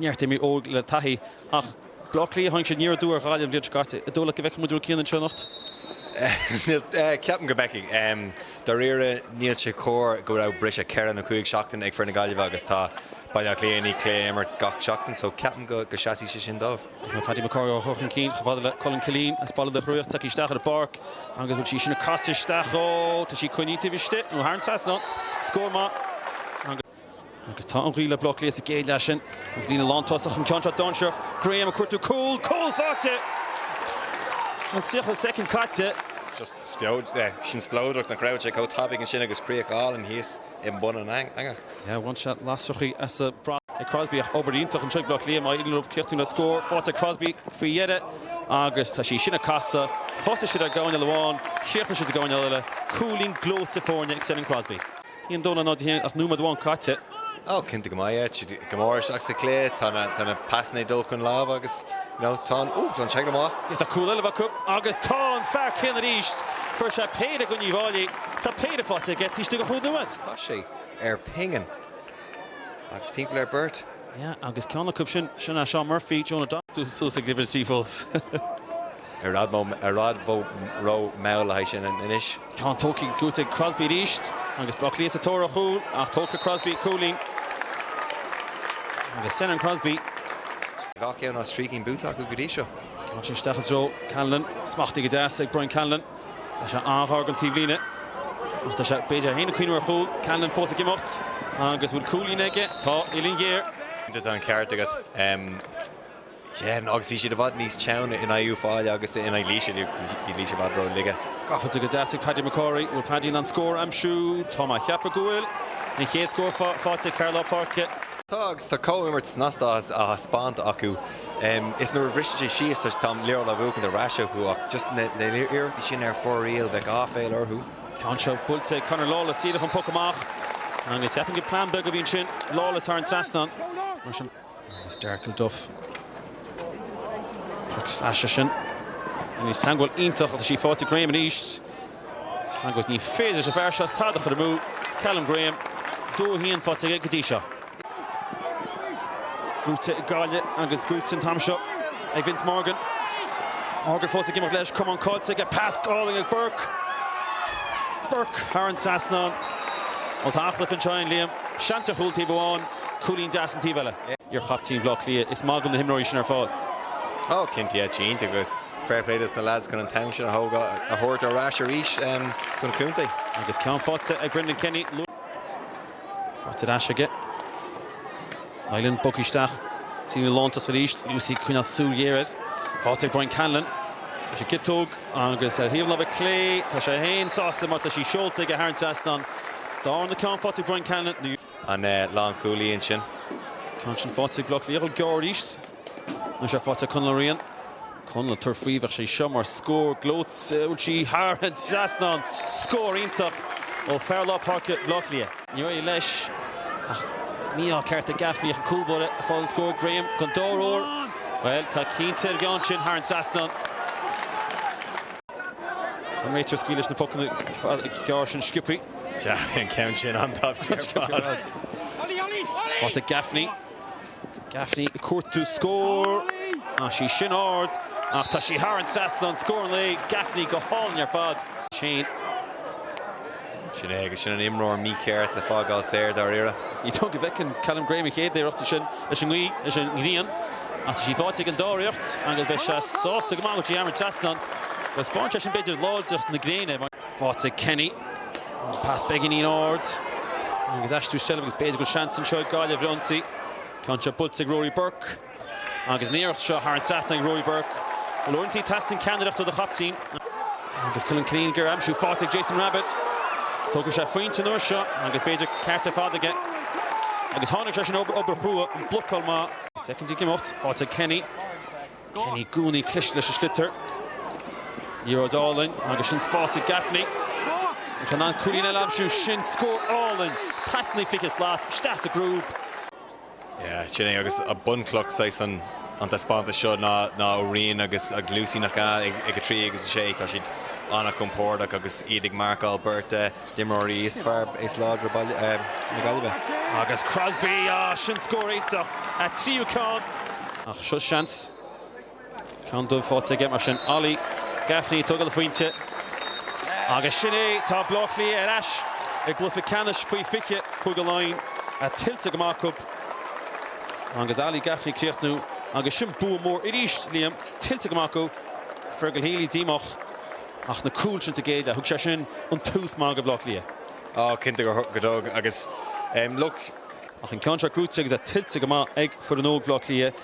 neart imreoirí óg le taithí ach Baile Átha Cliath a tháinig siad, ní raibh dua ar Ghaillimh an bhliain seo caite. An dóigh leat go bhfeicfidh muid Rua Keane anseo anocht? Ceapaim go bhfeicfidh. Dáiríre, níl sé cóir go raibh briseadh ceithre nó cúig seachtaine ag fir na Gaillimhe agus tá Baile Átha Cliath i ndiaidh cluiche a imirt gach seachtain só ceapaim go seasfaidh sé sin dóibh. Tá Paddy Mac Cárthaigh á chur chun cinn chomh fada le Cullen Killeen as Baile Locha Riach. Tiocfaidh isteach ar an bpáirc agus bhuel, í sin á casadh isteach dhó, tá sí coinnithe taobh istigh nó thar an trasnán. Scór maith. Agus tá an ghaoth le Baile Átha Cliath sa gcéad leath sin agus líne lántosach an ceann seo dainsearach, Graham ag cuartú cúl, cúl faighte! An 30 soicind caite. Sin spleodrach nach raibh sé chomh tapaidh ansin agus críoch álainn thíos i mbun an eangach. Bhain sé lasrachaí as. Buaite ag Crosbie ach obair iontach anseo ag Baile Átha Cliath má éiríonn leo críochnú le scór faighte ag Crosbie faoi dheireadh agus tá sí sin ag casadh. Thosaigh siad i gcúinne amháin, chríochnaigh siad i gcúinne eile. Cúilín gleoite foirne ag Senan Crosbie. Ní an Domhnach ná Dé hAoine ach nóiméad amháin caite. Oh, cinnte go mbeidh. Siad go mór isteach sa chluiche, tá na pasanna ag dul chun lámh agus tá an, oh, tá an teaglaim á. Tá cúl eile acu agus tá an fear céanna arís. Fuair sé péire in aghaidh Uíbh Fhailí, tá péire faighte aige, taobh istigh de chúig nóiméad. Chas sé ar phingin agus timpeall ar beirt. Yeah, agus ceann acu sin, sin ea Seán Murphy, Jonah Donnellan suas ag líbin istigh fós. Ar fhad mo, ar fhad bho, ro, mall a haghaidh sin anois. Tá an todhchaí gaibhte ag Crosbie arís agus Buckley sa tóir ar chúl ach tógfaidh Crosbie cúilín agus Senan Crosbie. Gach ceann as trí cinn buaite acu go dtí seo. Ceann sin isteach i dtreo Callanan. Smachtaithe go deas ag Brian Callanan. Tá sé an-ghar den taobhlíne ach tá sé, b'fhéidir, ag cuimhneamh ar chúl. Callanan fós ag imeacht agus an bhfuil cúilín aige? Tá! Uillinn ghéar. Tá an ceart agat. Dheamhan, agus bhí siad i bhfad níos teann in aghaidh Uíbh Fhailí agus in aghaidh Laoise, bhí Laoise i bhfad ró-laige. Gabháilte go deas ag Paddy Mac Cárthaigh, an bhfuil Paddy in ann scór a aimsiú? Tá mé ag ceapadh go bhfuil. An chéad scór faighte ag fear lár páirce. Tá, agus tá comhimirt snasta á thaispeáint acu, is nuair a bhriseann sé síos tá an liathróid á bhuachaint ar ais acu, ach just na iarrachtaí sin ar fóraoil, bheadh aiféala orthu. Tá an ceann seo buailte ag Conor Lawless, díreach ón bpoc amach, agus cheapfainn gur plean beag a bhí ansin, Lawless thar an trasnán, mar sin. Marius Darkle Duff, poc sleasa sin. Iomaí ceangal iontach agus í faighte ag Graham arís agus ní féidir leis an bhfear seo tada a chur amú, Callum Graham, 2-1 faighte aige go dtí seo. Buaite ag Gaillimh agus buaite an t-am seo ag Vince Morgan. Morgan fós ag imeacht leis, camán caillte aige, pas álainn ag Burke. Burke thar an trasnán. Ó tá aclaithe ansin, Liam, seans ar chúl taobh amháin. Cúilín deas an taobh eile. Iar-chaptean Bhleá Cliath, is maith go bhfuil na himreoirí sin ar fáil. Oh, cinnte, cinnte, agus fair play dos na lads chun an t-am sin a thógáil, a thabhairt ar ais arís don chontae. Agus ceann faighte ag Brendan Kenny, luath. Faighte ar ais aige. Nilan, bogtha isteach. Tríd an lántosach arís. Lucey ag coinneáil súil ghéar air. Faighte ag Brian Cannellan. Tá sé ina chiotóg, agus ar thaobh láimhe clé, tá sé féin sásta mar tá sí seolta aige thar an trasnán don darna ceann. Faighte ag Brian Cannellan. an lánchúlaí ansin. ceann sin faighte ag Bleá Cliath ag dul gearr arís nó sé faighte ag Conal Ó Riain. Conal ag tabhairt faoi, bheadh sé seo mar scór gleoite, bhuail sí thar an trasnán, scór iontach ó fear lár páirce Bhaile Átha Cliath. Ní raibh leis, mí-ádh ceart ag Gaffney ach an cúlbáire ag fáil an scór, Graham don dara huair, bhuel tá cinnte an ceann sin thar an trasnán. An réiteoir ag scaoileadh leis na pocanna gearra sin sciobtha. Sea, bhí an ceann sin an-tapaidh ar fad. Faighte ag Gaffney. Gaffney ag cuartú scór. Tá sí sin ard ach tá sí thar an trasnán. Scór an lae. Gaffney go hálainn ar fad. Shane. Sin é, agus sin an imreoir mícheart le fágáil saor, dáiríre. Ní dóigh liom go bhfeiceann Callum Graham a chéad iarracht ansin leis an ngaoth, leis an ngrian, ach tá sí faighte ag an dara iarracht agus beidh sé sásta go maith go dtéann sí thar an trasnán. Taispeánann sé sin, b'fhéidir, láidreacht na gréine. Faighte ag Kenny. An pas beagáinín ard agus aistriú seilbhe agus b'fhéidir go bhfuil seans anseo ag Gaillimh ar ionsaí. Ceann seo buailte ag Ruairí Burke. Agus an iarracht seo thar an trasnán ag Ruairí Burke, bhuel uaireanta teastaíonn ceannaireacht ó do chaiptín. Agus Colm Killinig ar aimsiú faighte ag Jason Rabitte. Tógfaidh sé a phointe an uair seo agus b'fhéidir an ceart ar fad aige. Agus tháinig sé sin, obair, obair chrua, an blocáil maith. Soicind ag imeacht, faighte ag Kenny. Kenny i gcónaí cliste leis an sliotar. Liathróid álainn agus sin spás ag Gaffney. An sé in ann cúilín eile a aimsiú? Sin scór álainn! Passannaí fiche slat, isteach sa gcrúb. Yeah, sin é agus bunchloch saghas an an taispeántas seo ná ná Ó Riain agus agus Lucey nach ea? Ag ag a trí agus a sé tá siad an-chompordach agus iad ag marcáil beirt de d'imreoirí is fearr, is láidre Bhaile eh na Gaillimhe. Agus Crosby, ah sin scór iontach, a tríú ceann. Ach seo seans. Ceann dubh faighte aige mar sin. Ollie Gaffney ag tógáil a phointe agus sin é! Tá Baile Átha Cliath ar ais i gcluiche ceannais faoi 20, Cúige Laighean, tuillte go maith acu agus Ollie Gaffney ag críochnú agus sin bua mór arís, Liam, tuillte go maith acu. Fergal Healy díomách ach na cúil sin sa gcéad leath, thug sé sin an tús maith do Bhaile Átha Cliath. Ó, cinnte gur thug agus look. Ach an ceann seo cruaite agus tuillte go maith ag foireann óg Bhaile Átha Cliath.